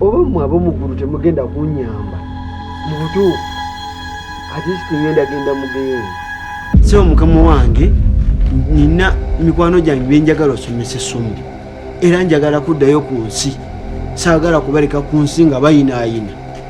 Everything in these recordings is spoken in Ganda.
oba mmwe ab'omu ggulu temugenda kunnyamba mu butuufu ate sikingenda genda mugeyeeni sebo mukama wange nina mikwano gyange byenjagala osomesa essomo era njagala kuddayo ku nsi saagala kubaleka ku nsi nga bayinaayina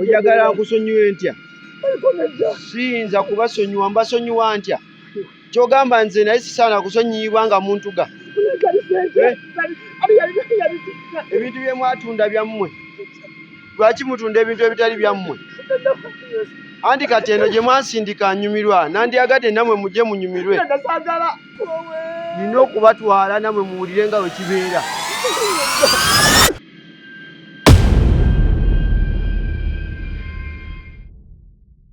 oyagala nkusonyiwe ntya siyinza kubasonyiwa mbasonyiwa ntya kyogamba nze naye sisaana kusonyiyibwa nga muntu ga eh? ebintu byemwatunda byammwe lwaki mutunda ebintu ebitali byammwe anti kati eno gye mwansindika nyumirwa nandyagadde namwe mujje munyumirwe nina okubatwala namwe muwulire nga wekibeera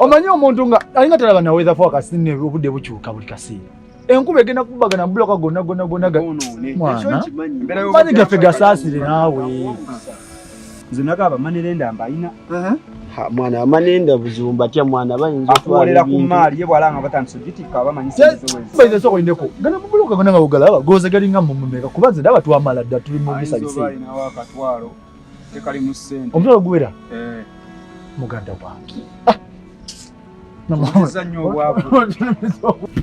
omanyi omuntu nga alinga talaba naweza fo akasine obudde bukyuka buli kaseera enkuba egenda kubagana buloka gonna gonna gonna mani gaffe gasaasire naawe nze nagaba manirenda mbayina mwana amanenda buzibu mbatya mwana bayinza okuwolera ku maali ye bwalanga batandise ogitikka abamanyisibayinza esoko indeko gana mubuluka gona nga bugalaba goze galinga mumumeka kuba nze daba twamala dda tuli mu bisabise tekali mu ssente omutwalo guwera eh. muganda wange ah!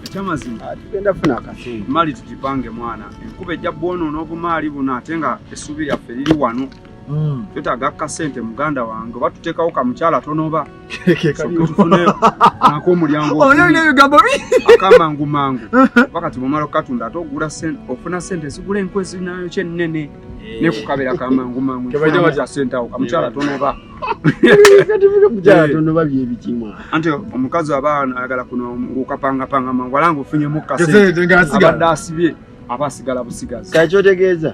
ekyamazima ah, tugenda funa akasente mali tugipange mwana enkuba ejja bwonoona obumaali buno ate nga essuubi lyaffe liri wano Mm. twetaaga kasente muganda wange oba tuteekawo ka mukyala tonoba nako omulyangoakamangu mangu wakati bwomala okukatunda ate ogula ofuna sente zigula enku ezinayo kyenene eh. ne kukabira kamangu mangu tebajja baja sente awo kamukyala tonoba anti omukazi aba ayagala kuno ngukapangapanga mangu ala ngufunye mukkaseabadde asibye aba asigala busigazi kakyotegeeza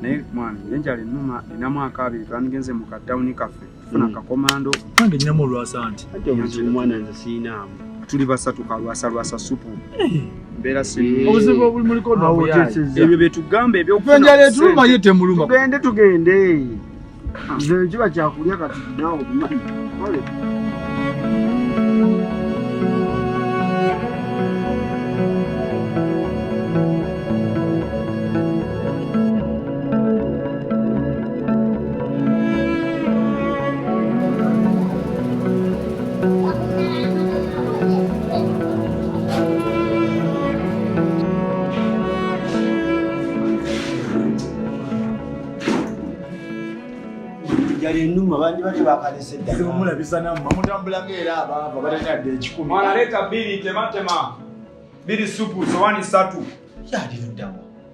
naye mwana enjala enuma enamu akabiri twandigenze mu katawuni kaffe funa hmm. kakomando nange ninamu olwasa anti omwana nze siinaamu tuli basatu kalwasa lwasa supu eh. mbeera obuzibu obulimuliko ebyo byetugamba ebyoenjala etuluma ye temuluma tugende tugende ah. nze kiba kyakulya kati naawe obimanyi enuma bandi bali bakalese ddala omulabisa namma mutambulako era abaava balina dde ekikumi mwana leeta bbiri tematema bbiri supu sowani satu yaliruddamu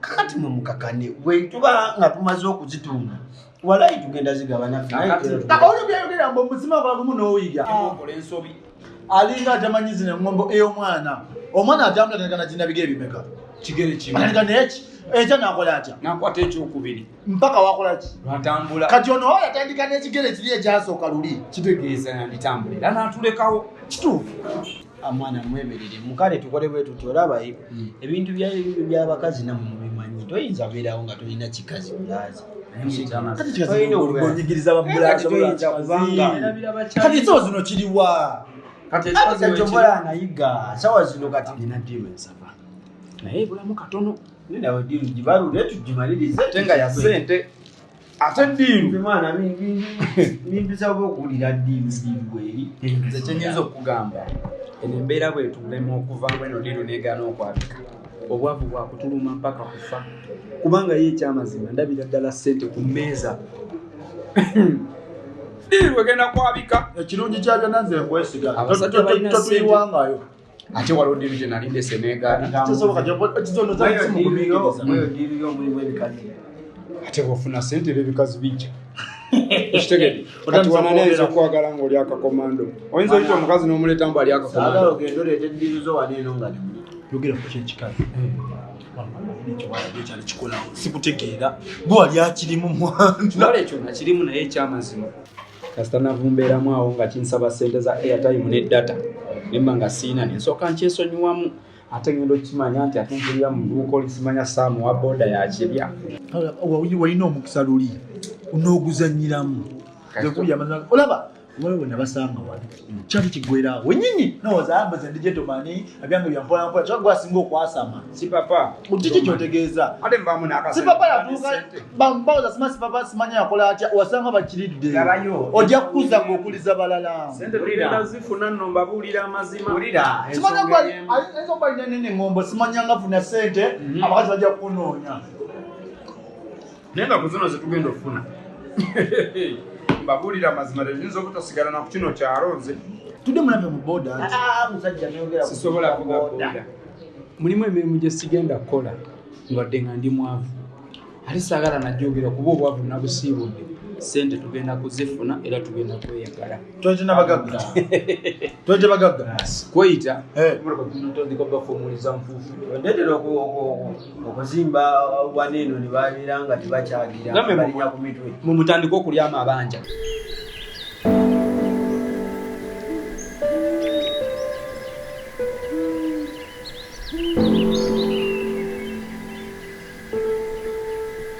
kakati mwe mukakane bwe tuba nga tumaze okuzitunda walayi tugenda zigaba naffeolwobyayogera mbu omuzima gwagumu n'oyiga okola ensobi alinga atamanyi zino eŋombo ey'omwana omwana atambula tanagana ginabiga ebimeka kigere kimu naye ekyo nakola atya nakwata ekyokubiri mpaka wakola ki atambula kati ono oyo atandika n'ekigere kiri ekyasooka luli kitegeeza yanditambula era n'atulekawo kituufu amwana ah, mwemerere mukale tukole bwe tuti olabaye hmm. ebintu byabakazi namu mubimanyi toyinza beerawo nga tolina kikazi bulazi kati so zino kiriwa kati ekyobola anayiga sawa zino kati nina diru ensava naye ebulamu katono nawe diru gibalule tugimalirize ate nga ya sente ate diru mwana nimpisa oba okuwulira diru diru bweri nze kyenyinza okugamba eno embeera bwetulema okuvamu eno diru negana okwabika obwavu bwakutuluma mpaka kufa kubanga ye ekyamazima ndabira ddala sente ku mmeeza diru egenda kwabika ekirungi kyabyona nze nkwesiga totuyiwangayo ate waliwo diru gye nali ndese negaate bwofuna sente era ebikazi bijja ekitegede kati wananayinza okwagala ngaoli akakomando oyinza oyita omukazi nomuleeta mbu ali akakomandoekikikolawo sikutegeera bwewali akirimu mwanekyo nakirimu naye ekyamazima kasita navumbeeramu awo nga kinsaba sente za airtime ne data nemba nga siina nensooka nkyesonyiwamu ate ngenda okukimanya nti ate mpulira mu duuka olisimanya saamu wa boda yakirya walina omukisa luli n'oguzanyiramu olaba wewe nabasanga wali kyali kigwerawo wenyini nowoza ambaza ndi gentleman abyange byampola mpola kyali gwasinga okwasama sipapa kiki kyotegeeza sipapa yatuuka bawoza sima sipapa simanya yakola atya wasanga bakiridde ojja kukuza ngaokuliza balala simanya ayinza okuba linanene ngombo simanya nga funa sente mhm. abakazi bajja kukunoonya naye nga kuzino zetugenda okufuna mbabuulira amazima leyinza obutasigala naku kino kyalo nze tudde mulabye mu boda ah, ah, ah, sisobola kuga boda mulimu emirimu gyesigenda kukola ngadde nga ndi mwavu ali saagala najogera kuba obwavu nabusiibudde sente tugenda kuzifuna era tugenda kweyagala kweyita eh. okuzimba wana eno ne babeera nga tebakyagira balinya ku mitwe mumutandika okulyamu abanja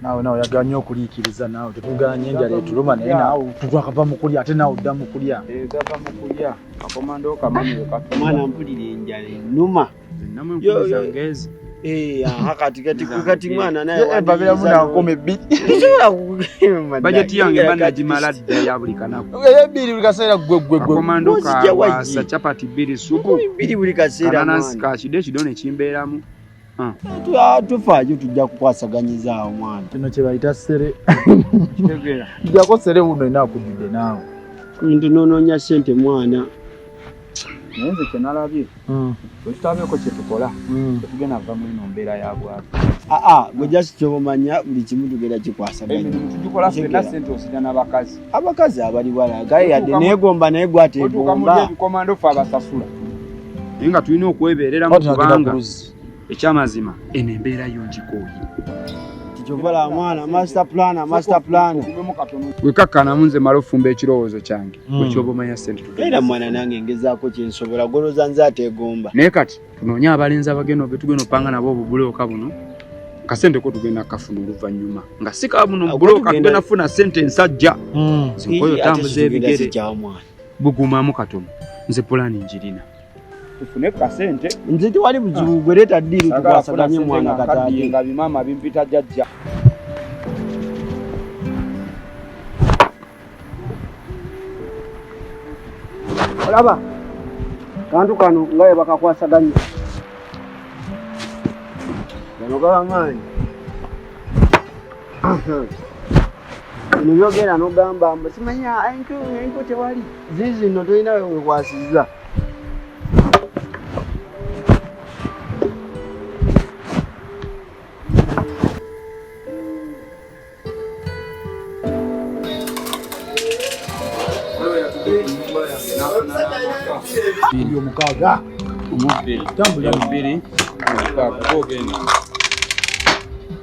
naawe naawe oyagala nnyo okuliikiriza naawe tetuganye enjala etuluma naye naawe twakava mu kulya ate naawe odda mu kulya gava mu kulya kakomando kamanyoomwana mpulira enjala enuma eh, kati mwana nayebabeeramu nankoma ebbiri bajeti yange banagimala dda ya buli kanaku ebbiri buli kaseera ggweggweggwekomando kawasa chapati bbiri supu bbiri buli kaseera ananansi kakide ekido ne kimbeeramu Ah. Ah, tufaayo tujja kukwasaganyiza awo mwana kino kyebayita sere jako sere wuno enakudidde naawe nti nononya sente mwana naye nze kyenalabye hmm. wekitabeeko kyetukola hmm. tetugenda va mwino mbeera ya bwavu aa ah, ah, gwe just kyobomanya buli kimu tugenda kikwasagatugikola fena sente osina nabakazi abakazi abali bwala gaye yadde negomba naye gwategomba ebikomando fe abasasula naye nga tulina okwebeereramu kubanga ekyamazima eno embeera yo ngikooye wekakkanamu nze mala ofumba ekirowoozo kyange hmm. ekyoba omanya senteera mwana nange ngezaako kyensobola goloza nze ateegomba naye kati tunoonye abalenzi abagenda obetugenda opanga nabo obubuleoka buno kasente ko tugenda kafuna oluvannyuma nga si kabuno buloka tugenda funa sente ensajja hmm. oyo tambuza ebigere bugumamu katono nze pulani njirina tufune kasente nze tewali buzibu ah. gwereta ddiiri tukwasaganye mwana kataati nga bimaama bimpita jajja olaba kantu kano nga we bakakwasaganya gano gaba maanyi nibyogera nogamba mbu simanya enku enku tewali zizino tolina wewekwasiza omukaaga omubiri tambula mubiri omukaaga ogenda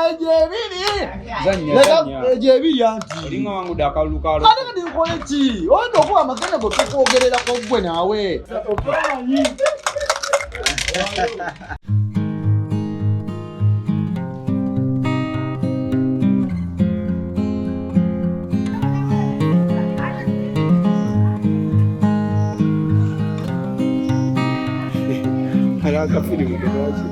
egyo ebiri egyo ebiri antiatekadinkole ki oyinza okuba amagenda go tukwogererako gwe naawe Caraca, filho, que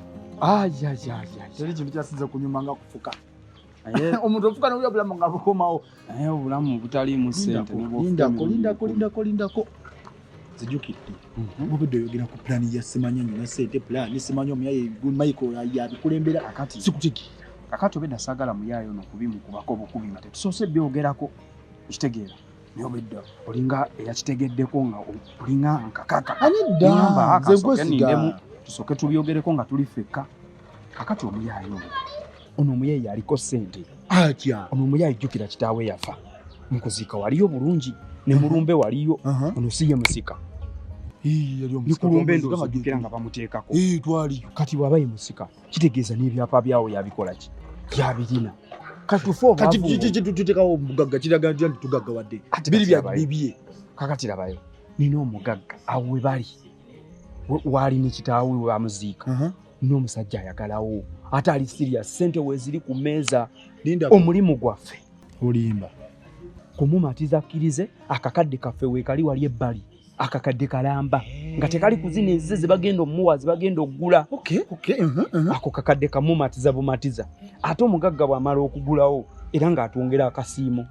teri kintu kyasinza okunyuma nga kufuka omuntu ofuka nobya obulamu nga bukomawo naye obulamu butaliimu sentelindako zijukidde mubudde mhm. oyogera ku pulaani ya simanya nyina sente pulaani simanya omuyayemayiko yabikulembera akati sikutigi kakati obedda sagala muyaayo nokubimu kubako bukubi nga tetusoose byogerako kitegeera Nyobidda olinga eyakitegeddeko nga olinga nkakaka. Ani dda nze nkwesiga. Tusoke tubyogereko nga tuli fekka. Kakati omuyaye ono. Ono omuyaye yaliko sente. Atya. Ono omuyaye jukira kitaawe yafa. Mukuzika waliyo bulungi ne mulumbe waliyo. Uh -huh. Ono siye musika. Hii yali omusika. Nikulumbe ndo zikira nga bamuteekako. Hii twali. Kati wabaye musika. kitegeeza n'ebyapa byawo yabikola ki yabirina katufokitutekawo omugagga kiraga ntya nti tugaggawadde biri byabibye kakati labayo nina omugagga awo we bali waali ne kitaawe we bamuziika uh-huh. n'omusajja ayagalawo ate ali siriya sente weziri ku meeza omulimu gwaffe olimba kumumatiza akkirize akakadde kaffe weekali wali ebbali akakadde kalamba nga tekali kuzina ezize zebagenda omuwa zebagenda okugula uh-huh, uh-huh. ako kakadde kamumatiza bumatiza ate omugagga bwamala okugulawo era ngaatwongera akasiimo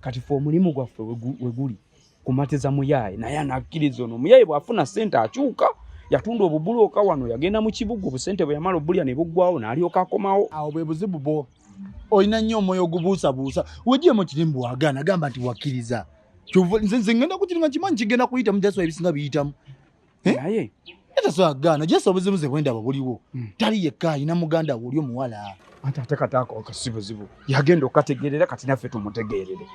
kati fe omulimu gwaffe weguli kumatiza muyaye naye anakkiriza ono omuyaye bw'afuna ssente akyuka yatunda obubulu oka wano yagenda mu kibuga obusente bwe yamala obulya ne buggwawo n'alyoka akomawo awo bwe buzibu bwo olina nnyo omwoyo ogubuusabuusa wejjemu kiri mbu wagaana gamba nti wakkiriza nze ngenda kukiri nga kimanyi kigenda kuyitamu jaswa ebisinga biyitamu Eh? naye era twagaana jesa obuzibu ze bwendaba buliwo hmm. tali yekka alina muganda woli omuwala anti ate kataako akasibuzibu yagenda okukategeerera kati naffe tumutegeerere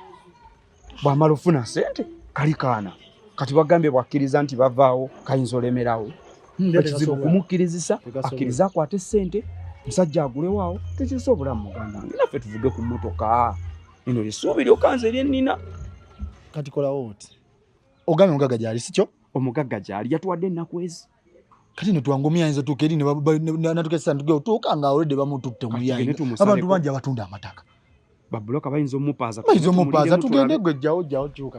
bwamala ofuna sente kali kaana kati bagambye bwakkiriza nti bavaawo kayinza olemerawo hmm, ekizibu kumukkirizisa akkiriza akwate sente musajja agulewaawo tekyusa obulamu muganda nge naffe tuvuge ku mmotoka eno lyesuubi lyokanze lyennina kati kolawo oti ogambye omugagga gyali sikyo omugagga gyali yatuwadde ennaku ezi kati netwangomya ayinza tuuka eri natuka esanduke otuuka nga olede bamututte muyayi abantu bangi abatunda amataka babuloka bayinza omupaaza bayinza omupaaza tugende gwe jjawo jjawo kyuka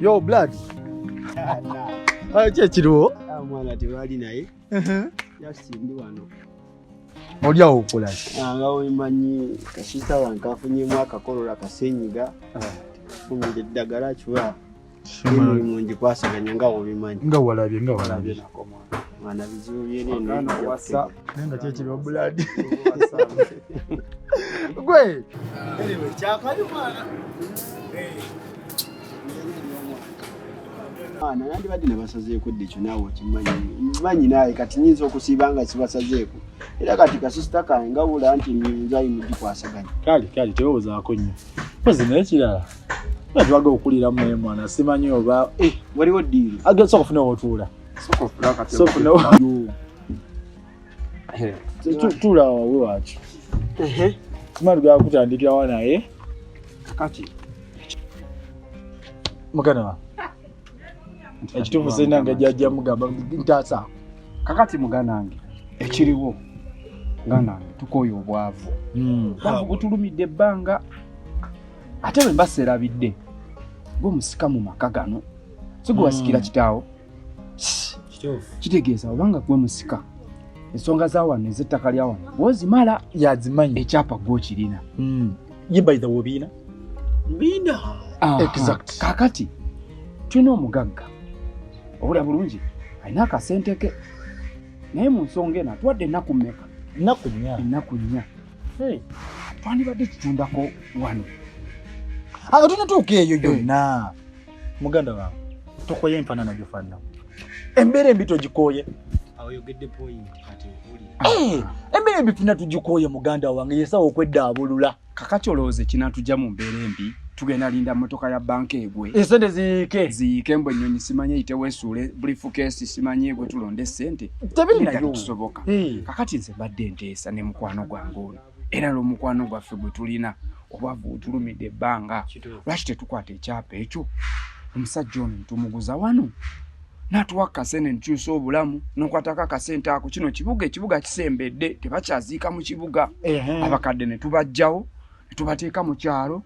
Yo blood. Ayo kye kiriwo? Ah mwana tewali naye. Mhm. Just ndi wano. Oli awo okola ki? Ah nga omanyi kasita wankafunye mwaka kolola kasenyiga. Ah. Fumide ddagala kiwa. ngikwasaganya nga obimanyi nga walabye nga walabye mwana bizibu byenenwasa naye nga kyekiba buladi gwe kyakali mwana mwana nandibadde nebasazeeko dde ekyo naawe okimanyi manyi naawe kati nyinza okusiiba nga kibasazeeko era kati kasisita kange nga wula nti nzayi mugikwasaganya kale kale tewewozaako nnyo mpozi naye kirala Natwaga okulira mwe mwana simanyi oba eh waliwo deal. Aga soko funa otuula. Soko funa kati. Soko funa. Eh. Tuula wawe wacho. Ehe. Tumali ga kutandikira wana eh. Kati. Mugana wa. Ekitufu sina nga jajja mugamba ntasa. Kakati mugana wange. Ekiriwo. Ngana tukoyo obwavu. Mm. Butulumide banga. ate bwe mba serabidde gwe musika mu maka gano si gwe wasikira hmm. kitaawo kitegeeza obanga gwe musika ensonga za wano ez'ettaka lya wano wozimala yazimanyi ekyapa gwokirina hmm. ye baitha wobiina biina kakati tulina omugagga obula bulungi alina akasente ke naye mu nsonga eno atuwadde ennaku mmeka ennaku nnya ennaku nnya twandibadde tutundako wano anga tunatuuka eyo gyonna muganda wange tokoye empanana gyofanana embeera embi togikooye eh, embeera embi fina tugikooye muganda wange yesawa okwedda abulula kakati olowooza ekinatujja mu mbeera embi tugenda linda motoka ya banka egwe esente ziyiike ziyiike mbu ennyonyi simanye yitewesuule bulifukeesi simanye egwe tulonde esente tebiri nayo tusoboka eh. kakati nze mbadde nte Sa ne mukwano gwange ono era lwomukwano gwaffe gwe tulina obwavu butulumidde ebbanga lwaki tetukwata ekyapa ekyo omusajja ono ntumuguza wano natuwa kasente nkyusa obulamu nokwatako akasente ako kino kibuga ekibuga kisembedde tebakyaziika mu kibuga abakadde netubajjawo netubateeka mu kyalo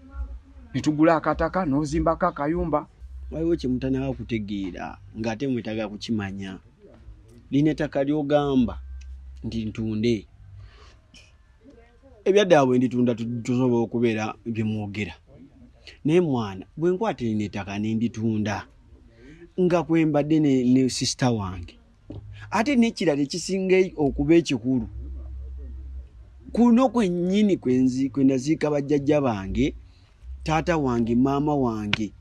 netugula akataka nozimbako akayumba waliwo kyemutanaga kutegeera ngaate mwetaga kukimanya lino ettaka lyogamba nti ntunde ebyaddaabwe nditunda tusobola okubeera byemwogera naye mwana bwe nkwata lino ettaka nenditunda nga kwembadde ne, ne sisita wange ate nekirala ekisinga okuba ekikulu kuno kwennyini kwenaziika bajjajja bange taata wange maama wange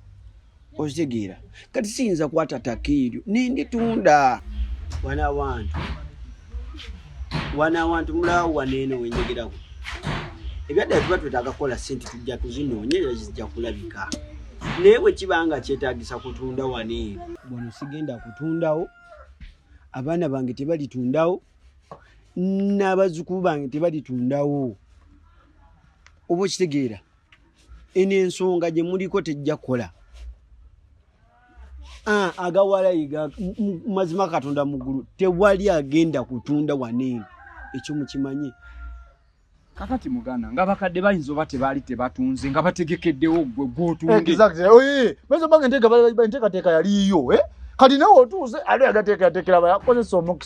ozitegeera kati siyinza kwata taka eryo nenditunda wana wantu wana wantu mulawo waneeno wenjogeraku ebyaddala tuba twetaaga kukola sente tujja kuzinoonye era zijja kulabika naye bwe kiba nga kyetagisa kutunda waneeno wano sigenda kutundawo abaana bange tebalitundawo n'abazzukulu bange tebalitundawo oba okitegeera eno ensonga gye muliko tejja kukola ah, agawalayiga mazima katonda muggulu tewali agenda kutunda waneeno ekyo mukimanye kakati muganda nga bakadde bayinza oba tebaali tebatunze nga bategekeddewo gwe gwotundeentekateeka yaliiyo eh? kati nawe otuuze ali agateekayateekera bayakozesa omukisa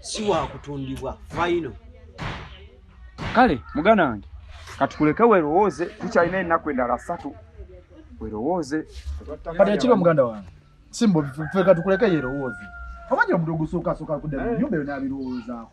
si wakutundibwa fayino kale muganda wange katukuleke werowooze tukyalina ennaku endala satu werowooze kati ekiro muganda wange simbo feka tukuleke yerowooze omanyi omuntu ogusuukasuuka kudda mu nyumba eyo n'abirowoozaako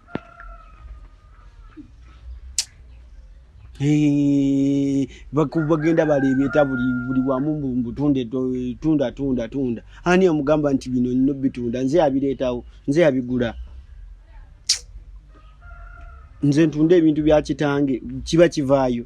bagenda baleebeeta buli wamu mbutunde tunda tunda tunda ani amugamba nti bino nino bitunda nze yabireetawo nze yabigula nze ntunda ebintu bya kitange kiba kivaayo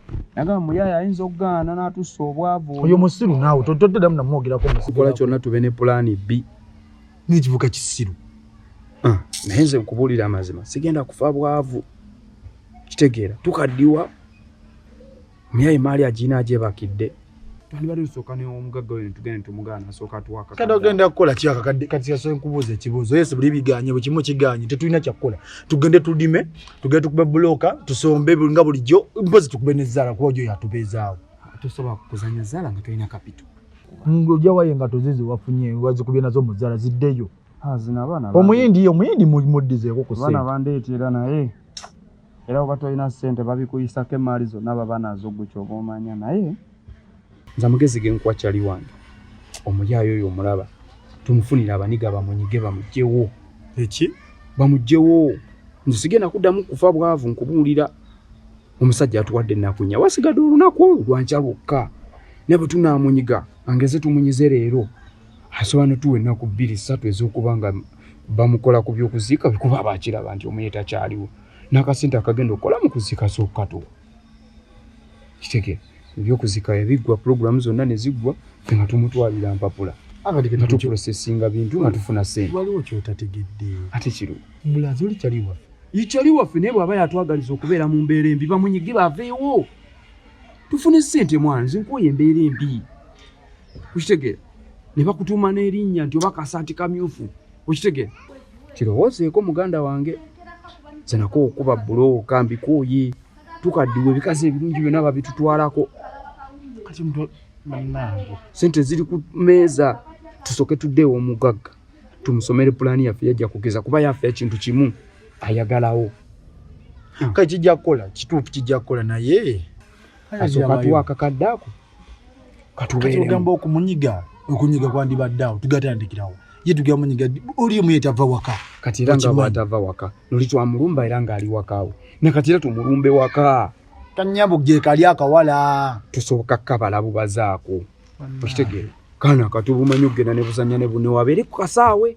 nagamba muyaye ayinza okugaana n'atusa obwavu oyo musiru naawe totoddamu namwogerako mukola kyonna tube ne pulaani bbi n'ekivuka kisiru ah, naye nze nkubuulira amazima sigenda kufa bwavu kitegeera tukaddiwa muyaye maali agiina agyebakidde twandibadde tusooka neomugagga oyo netugenda netumugaana asooka atuwakakadde ogenda kukola kyakakadde kati yasobola nkubuuza ekibuuzo yesi buli biganye buli kimu kiganye tetulina kyakukola tugende tulime tugende tukube bulooka tusombe nga bulijjo mpozi tukube nezaala kuba ojo yatubeezaawo tosobola kuzanya zaala nga tolina kapito ojawayo engato zizi wafunye wazikubye nazo muzaala ziddeyo ah, omuyindi omuyindi muddizeeko kuseera bandeetera naye Era oba tolina ssente babikuyisako emmaali zonna baba nazo ggwe kyoba omanya naye nze amagezi ge nkuwa cali wange omuyaayo oyo omulaba tumufunire abaniga bamunyige bamugyewo eki bamugyewo nze sigenda kuddamu kufa bwavu nkubuulira omusajja atuwadde ennaku nya wasigadde olunaku olwo lwankya lwokka ne bwe tunaamunyiga angeze tumunyize leero asobola netuwa ennaku bbiri ssatu ez'okuba nga bamukola ku byokuziika bikuba bakiraba nti omuye takyaliwo n'akasente akagenda okukola mu kuziika sookukatuwa kitegere ebyokuziika yabiggwa pulogulaamu zonna ne ziggwa fe nga tumutwalira mpapula nga tuprosesinga bintu nga tufuna sente waliwo kyotategedde ate kiro mulazi oli kyali waffe ikyali waffe naye bwaba yatwagaliza okubeera mu mbeera embi bamunyige baveewo tufune sente mwana nze nkuwa embeera embi okitegeera ne bakutuuma n'erinnya nti oba kasaati kamyufu okitegeera kirowoozeeko muganda wange zenako okuba bulooka mbikooye tukaddiwa ebikazi ebirungi byonna babitutwalako kati sente ziri ku meeza tusooke tuddeewo omugagga tumusomere pulaani yaffe yajja kugeza kuba yaffe ekintu kimu ayagalawo hmm. kati kijja kukola kituufu kijja kukola naye asooka tuwa akakadde ako katugamba okumunyiga okunyiga kwandibadde awo tugatandikirawo ye tugera munyiga oli omu yetava waka kati era nga bwatava waka noli twamulumba era ngaali wakaawe ne kati era tumulumbe waka kanyabo gyekali akawala tusoboka kabala bubazaako okitegeera kaana katubumanyi okugenda nebuzanya newabeere ku kasaawe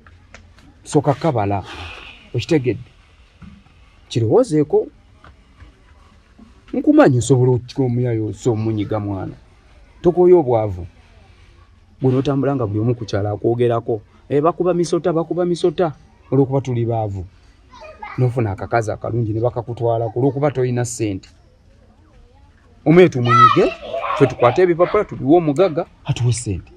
soka kabala okitegedde kirowoozeeko nkumanyi osobola okukika omuyayo osa omunyiga mwana tokoye obwavu gwe notambula nga buli omu kukyala akwogerako e, bakuba misota bakuba misota olwokuba tuli baavu nofuna akakazi akalungi nebakakutwalako olwokuba tolina sente omuye tumunyige fe tukwate ebipapula tubiwe omugaga atuwe sente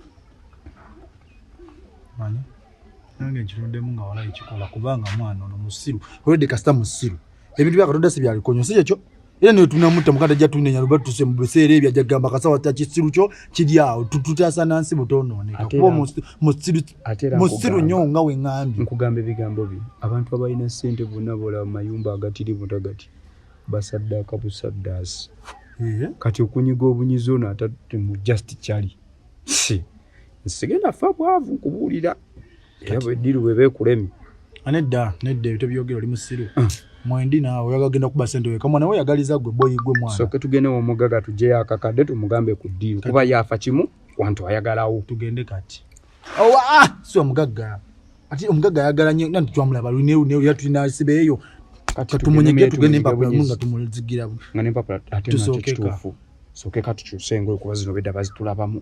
nange nkirondemu nga walayi kikola kubanga mwana ono musiru olwedde kasita musiru ebintu bya katonda sibyabikonyo si kyekyo era naye tunamutta mukanda ajja tunenya luba tuse mu biseera ebyo ajja kugamba kasawa ta kisiru kyo kiri awo tututaasa na nsi butoonooneka kuba musiru nnyo nga we ŋambi nkugamba ebigambo byo abantu abalina ssente bonna boolaba mu mayumba agatiri butagati basaddaaka busaddaasi kati okunyiga obunyizi ono atatemu just kyali si nsigenda fa bwavu nkubuulira era bwediru bwe beekulemi anedda ah, nedda ebyo tebyogera oli musiru ah. mwendi naawe oyagagenda kuba sente weka mwana we yagaliza gwe boyi gwe mwana soke tugende womugaga tugyeyo akakadde tumugambe ku ddiiru kuba yaafa kimu wantu ayagalawo tugende kati owa ah, si omugagga ati omugagga ayagala nyo nanti twamulaba luneruneru era tulina sibe eyo katumunyege tugende empapula mu nga tumuzigira nga nempapula ate nakyo kituufu soke katukyuse engoye kuba zino bedda bazitulabamu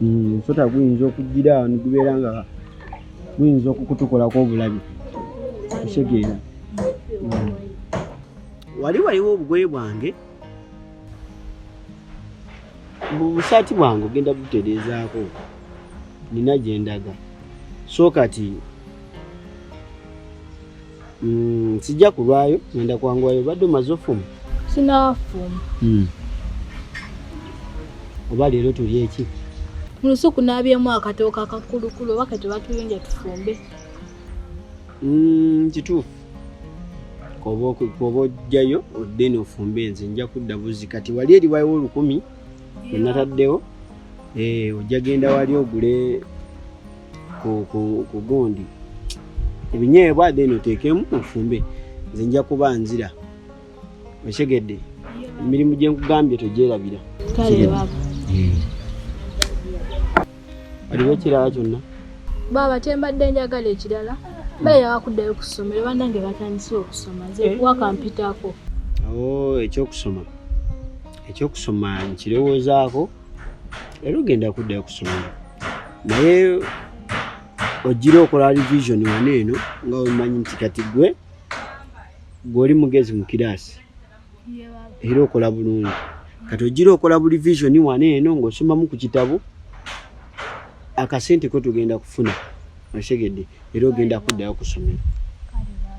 hmm, omusota guyinza okugira nigubeera nga guyinza okukutukolako obulabi osegeera hmm. wali waliwo obugoye bwange bubusaati bwange ogenda butereezaako nina gyendaga so kati Mm, sijja kulwayo ngenda kwanguwayo badde omaze ofuma sinafuma mm. oba leero tuli eki mu lusuku naabyemu akatooka akakulukulu oba ketebatuyunja tufumbe mm, kituufu koba ojjayo odde nofumbe nze nja kudda buzi kati wali eriwayo olukumi enataddewo eh, ojja genda wali ogule ku gundi ebinyeebwa then oteekemu ofumbe nze nja kuba nzira okitegedde emirimu gye nkugambye togyerabira hmm. waliwo ekirala kyonna baaba kyembadde njagala ekirala bale yawakuddayo ku ssomero banange batandise okusoma nze eh? wakampitako oh, ekyokusoma ekyokusoma nkirowoozaako era ogenda kuddayo kusomero naye ogira okola revision wano eno nga omanyi nti kati gwe gweoli mugezi mu kiraasi era okola bulungi kati ogira okola bu revision wano eno ng'osomamu ku kitabo akasente ko tugenda kufuna osegedde era ogenda kuddayo kusomero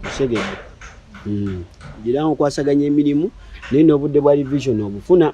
osegedde hmm. gira nkwasaganya emirimu naye n'obudde bwa revision obufuna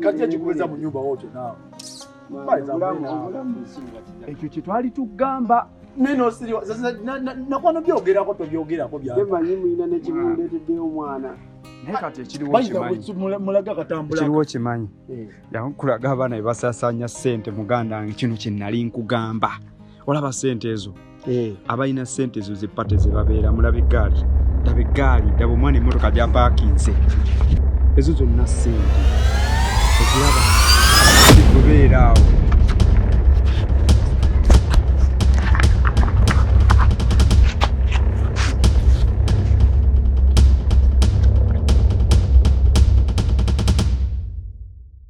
kati ekikubeza mu nyumba wokyo naawe ekyo kyetwali tugamba nakwano byogerako tobyogerako byamanyi mulina nekibundeteddeyo omwana kiriwo kimanyi eh. yakulaga abaana bebasasanya sente muganda nge kino kyenali nkugamba olaba sente ezo eh. abalina sente ezo zepate zebabeera mulaba eggaali daba eggaali daba omwana emmotoka gyapakinze ezo zonna sente eziraba zikubeera awo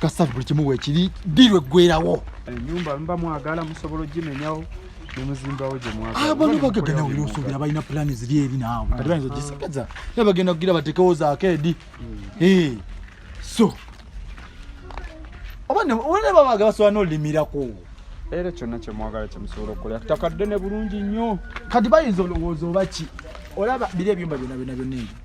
kasafu buli kimu wekiri dirwe gwerawo enyumba eh, mba mwagala musobola ogimenyawo nemuzimbawo gyemwagalaabano ah, bagagana wira osuubira balina pulaani ziri eri naawe kati bayinza ogisagaza ah. naye bagenda kugira batekewo zakeedi hmm. eh, so oba nebabaga basobola nolimirako era kyonna kyemwagala kyemusobola okukola takadde ne bulungi nnyo kati bayinza olowooza oba ki olaba biri ebyumba byona byona byona ebyo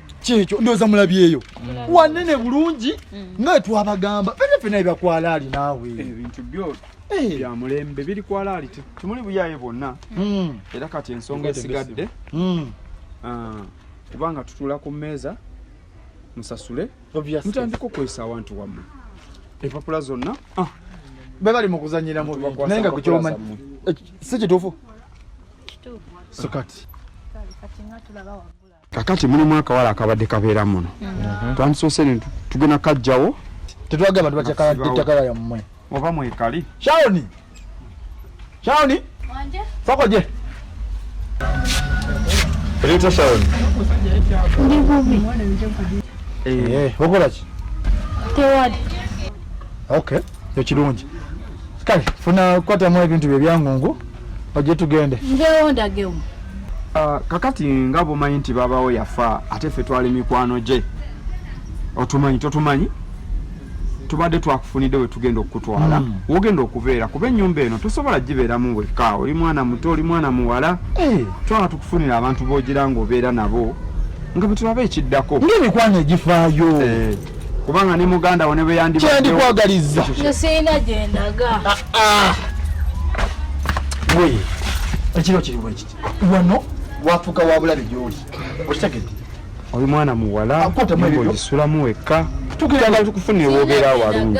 kyekyo ndooza mulabyeyo wanene bulungi mm. nga twabagamba fena fena ebyakwala ali naawe ebintu byo eh. byamulembe biri kwala ali tumuli buyaye bwonna mm. era kati ensonga esigadde mm. ah, kubanga tutula ku mmeeza musasule mutandika okwesa awantu wammwe empapula zonna ah. bebali mukuzanyira mubinaye nga kukyomanyi eh, si kituufu so kati kakati mulimu akawala akabadde kabeera muno mhm. twandisoose ne tugenda kajjawo tetwagala bantu batyakattaka yammwe oba mwekali shaoni shaoni fakoje Rita Sharon. Ndi bubi. Eh, eh okola ki? Tewali. Okay, ekirungi. Kale, funa kwata mu ebintu bye byangungu. oje tugende nvewo ndagewo ah, kakati nga bumanyi nti babawo yafa ate fe twali mikwano gye otumanyi totumanyi tubadde twakufunidde wetugenda okukutwala hmm. wogenda okubeera kuba enyumba eno tosobola gibeeramu wekka oli mwana muto oli mwana muwala eh. twala tukufunira abantu bogira ngaobeera nabo nga bwetulaba ekiddako ngaemikwano egifaayo eh. kubanga ne muganda wo ne bwe yandibadde kyendikwagaliza nze sirina gye ndaga ah, ah. we ekiro kiri bwe kiti wano wafuuka wa bulabe gy'oli okitegedde oli mwana muwala ogisulamu wekka tugenda tukufunira wobeera walungi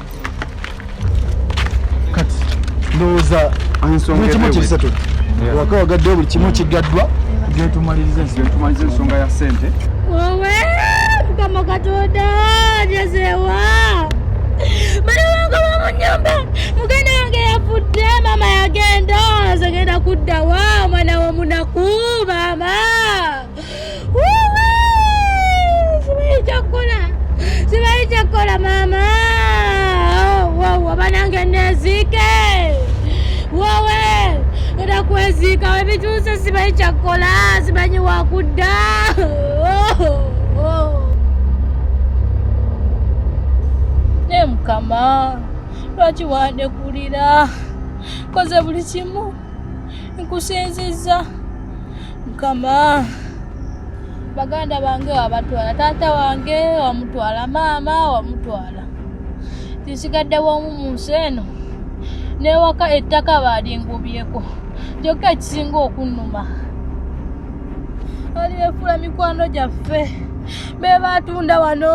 kati ndowooza ekimu kisatu waka wagaddewo buli kimu kigaddwa getumaliriza ensonga ya sente wowe mukama katonda njezewa bali wange bamu nyumba mugenda wange yafudde mama yagenda nze genda kuddawa omwana womunaku maama simanyi kyakkola simanyi kyakkola maama wawa banange neziike wowe era kweziika webituuse simanyi kyakkola simanyi wakudda ne mukama lwaki wandekulira koze buli kimu nkusinzizza mukama baganda bange wabatwala taata wange wamutwala maama wamutwala tisigadde wamu mu nsi eno newaka ettaka baalingubyeko kyokka ekisinga okunnuma ali befuula mikwano gyaffe be baatunda wano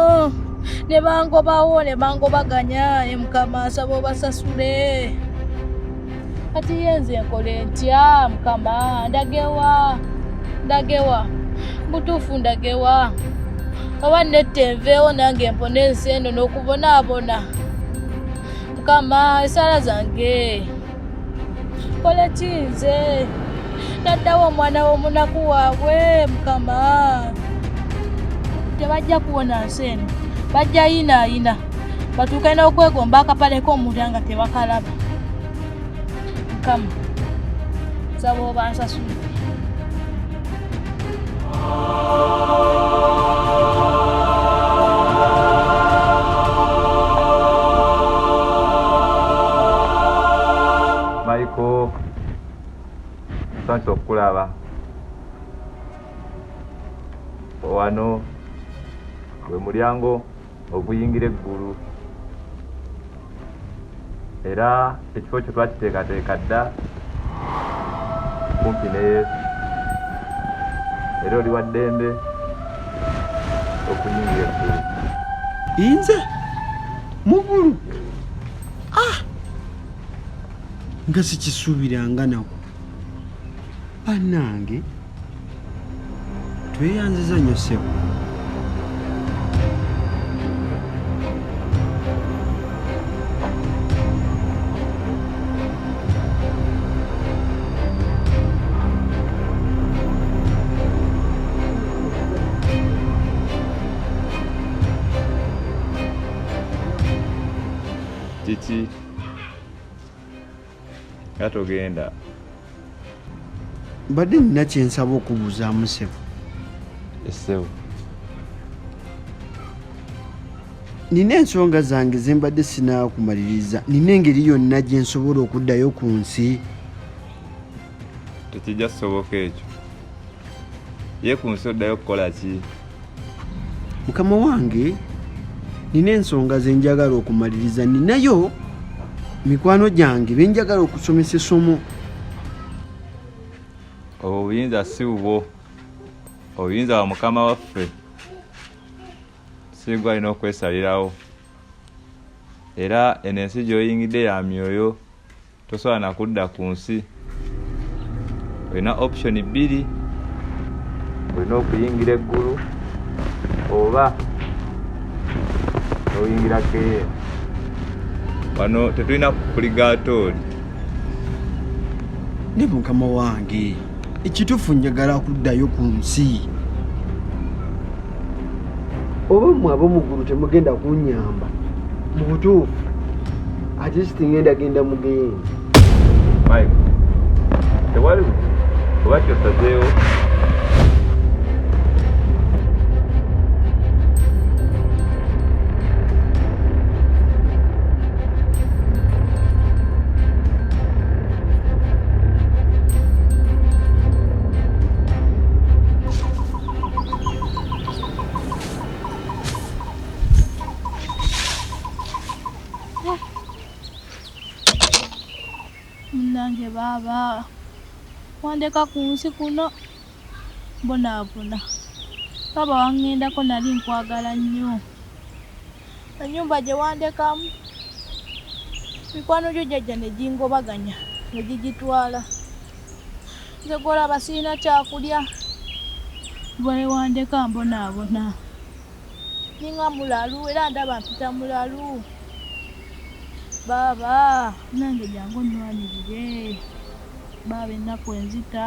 ne bangobawo ne bangobaganya emukama asaba obasasule kati ye nze nkole ntya mukama ndagewa ndagewa butuufu ndagewa oba netta enveewo nange mpona ensi eno n'okubonaabona mukama esaala zange kole ki nze naddawo omwana w'omunaku waabwe mukama tebajja kuwona nsi eno bajja yinaayina batuuke n'okwegomba akapale k'omuntu nga tebakalaba mukama nsaba obansasula maiko sonsa okukulaba wano gwe mulyango oguyingira eggulu era ekifo kyo twakiteekateeka dda kumpi ne yesu era oli wa ddembe okuyingira eggulu inze mugulu ah! nga sikisuubiranga nako banange tweyanziza nnyo ssebo Titi. nga togenda mbadde nina kyensaba okubuuzamu sebo esebo nina ensonga zange zembadde sinakumaliriza nina engeri yonna gyensobola okuddayo ku nsi tekijja kusoboka ekyo ye ku nsi oddayo okukola ki mukama wange nina ensonga ze njagala okumaliriza ninayo mikwano gyange be njagala okusomesa essomo obwo obuyinza si bubwo obuyinza bwa mukama waffe sigwa alina okwesalirawo era eno ensi gy'oyingidde ya myoyo tosobola nakudda ku nsi olina option bbiri olina okuyingira eggulu oba oyingira keye wano tetulina kukuligaatooli ne mukama wange ekitufu njagala kuddayo ku nsi oba mwe abomugulu temugenda kunyamba mu butuufu atist ngenda genda mugeyeni tewali oba kyosazeewo Munange baaba wandeka ku nsi kuno mbonaabona baba wangendako nali nkwagala nnyo enyumba gye wandekamu mikwano gyo jajja ne gingobaganya ne gigitwala nze gwolaba sirina kyakulya bwewandeka mbonaabona ninga mulalu era ndaba mpita mulalu baaba nange jangu nnwanirire baaba ennaku enzita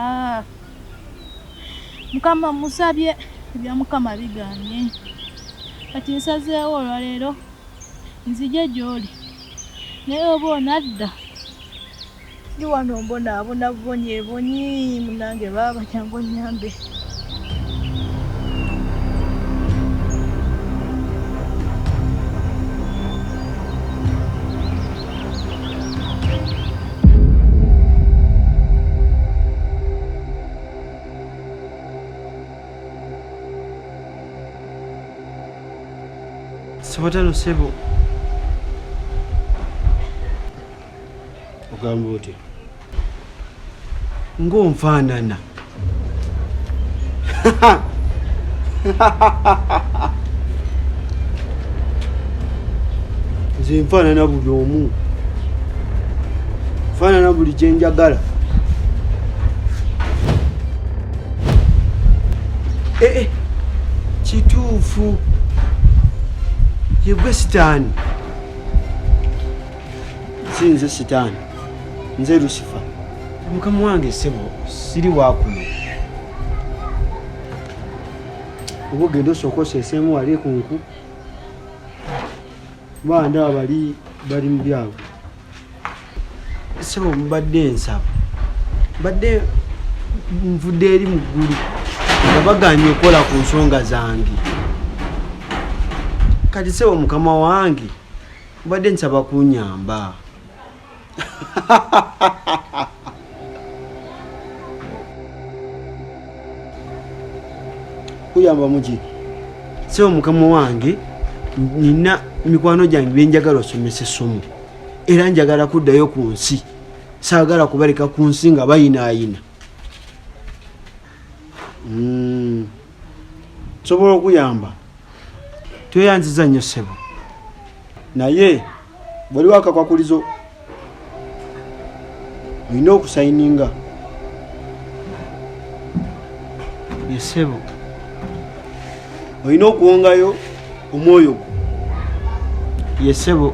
mukama musabye ebya mukama biganye kati nsazeewo olwaleero nzije gy'oli naye oba onadda ndi wano mbonaabona bubonyi ebonyi munange baaba kyangu onyambe Sibatano sebo. Ogamba otya? ng'onfaanana nze nfaanana buli omu nfaanana buli kyenjagala ee eh, eh, kituufu yegwe sitaani si nze sitaani nze lusifa mukama wange sebo siri wakuno oba ogenda osooka oseeseemu wali ku nku bandaba bali bali mu byabwe sebo mbadde ensaba mbadde nvudde eri mu ggulu nga baganye okukola ku nsonga zange kati sebo mukama wange mbadde nsaba kunyamba kuyamba muki sebo mukama wange nina mikwano gyange byenjagala osomesa essomo era njagala kuddayo ku nsi saagala kubaleka ku nsi nga bayinaayina hmm. nsobola okuyamba tweyanziza nnyo ssebo naye bwaliwo akakwakulizo olina okusayininga yesebo olina okuwongayo omwoyo gwo yesebo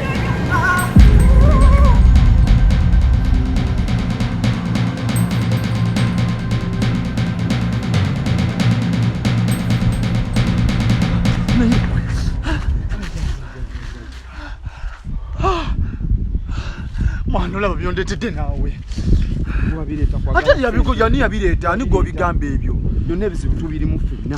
mwana olaba byondetedde naawe ate yabikuja ani yabireeta ani gwobigamba ebyo byonna ebizibu tubirimu ffenna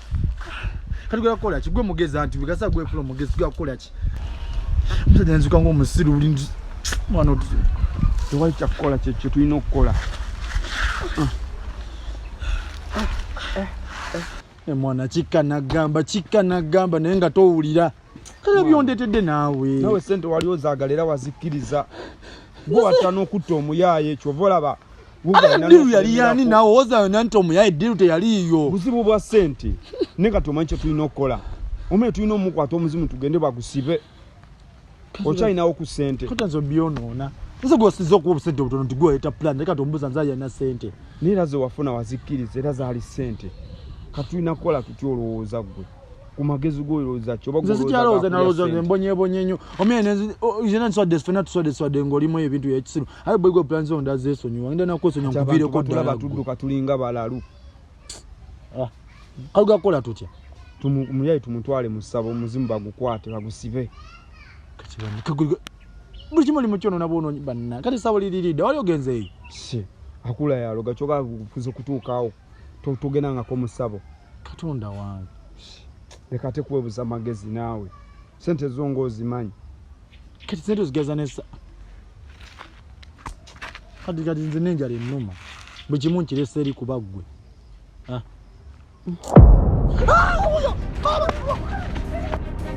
kati gwe kukola ki gwe mugezi anti bigasa gwe kulo mugezi gwe kukola ki msajja nzuka ngo musiru uli mwana otu tewali kya kukola kye kye tulina okukola e mwana kika nagamba kika nagamba naye nga towulira kale byondetedde naawe nawe sente wali ozaagala era wazikkiriza gwe watta n'okutta omuyaaye kyova olaba ate eddiru yali yani nawe owozayona nti omuya eddiru teyaliiyo buzibu bwa sente ne nga tomanyi kyetulina okukola omuye tulina omukwata omuzimu tugende bagusibe okyalinawo ku sente kutazo byonoona nze gwosiza okuwa obusente obutono nti gweyeta plan naye kati omubuza nze alina sente naye era zewafuna wazikkiriza era zaali sente katulina kukola tutya olowooza ggwe kumagezi gwoyo olowooza ki nze sikyalowooza nalowooza nze mbonyebonye nnyo omuyene yena nswadde fena tuswadde swadde ngaolimu ebintu byekisiru aye boygo plan zo nda zesonyiwa nda nakwesonyiwa nkuviireko ddala tudduka tulinga balalu ah, kaluga kukola tutya muyaye tumutwale mu ssabo omuzimu bagukwate bagusibe buli kimu oli mu kyonoona bwonoonyi banna kati ssabo liriridde wali ogenzeeyo akula yaloga kyoka kuze kutuukaawo togendangako musabo katonda wange leka ate kuwebuza amagezi naawe sente zo nga ozimanyi kati sente ozigeza nesa kati kati nze nenjala ennuma bwe kimu nkiresa eri kuba ggwe ah. ah,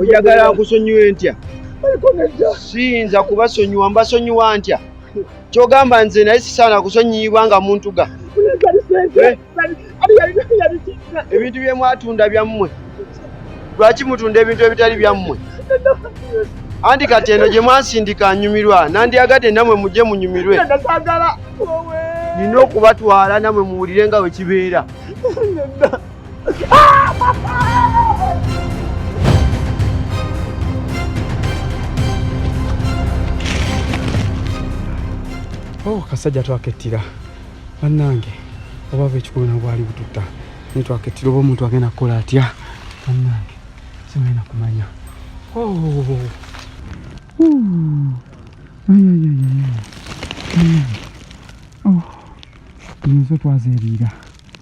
oyagala nkusonyiwe ntya siyinza kubasonyiwa mbasonyiwa ntya kyogamba nze naye sisaana kusonyiyibwa nga muntu ga eh? ebintu byemwatunda byammwe lwaki mutunda ebintu ebitali byammwe anti kati eno gye mwansindika nyumirwa nandiyagadde namwe mujje munyumirwe nina okubatwala namwe muwulire nga bwe kibeera Oh, kasajja twakettira bannange obava ekikulu na bwali bututta naye twakettira oba omuntu agenda kukola atya bannange simulina kumanya oh. nzo twazeriira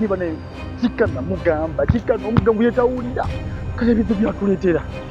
niba naye kika namugamba kika nomugamba yetawulira kale bizo byatuleetera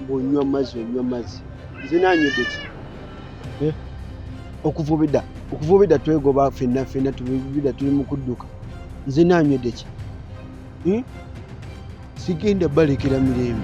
bwonywa mazzi onywa mazzi nze nanywedde ki eh? okuvubida okuvubida twegoba fenna fenna tubida tuli mu kudduka nze nanywedde ki hmm? sigenda balekera mirembe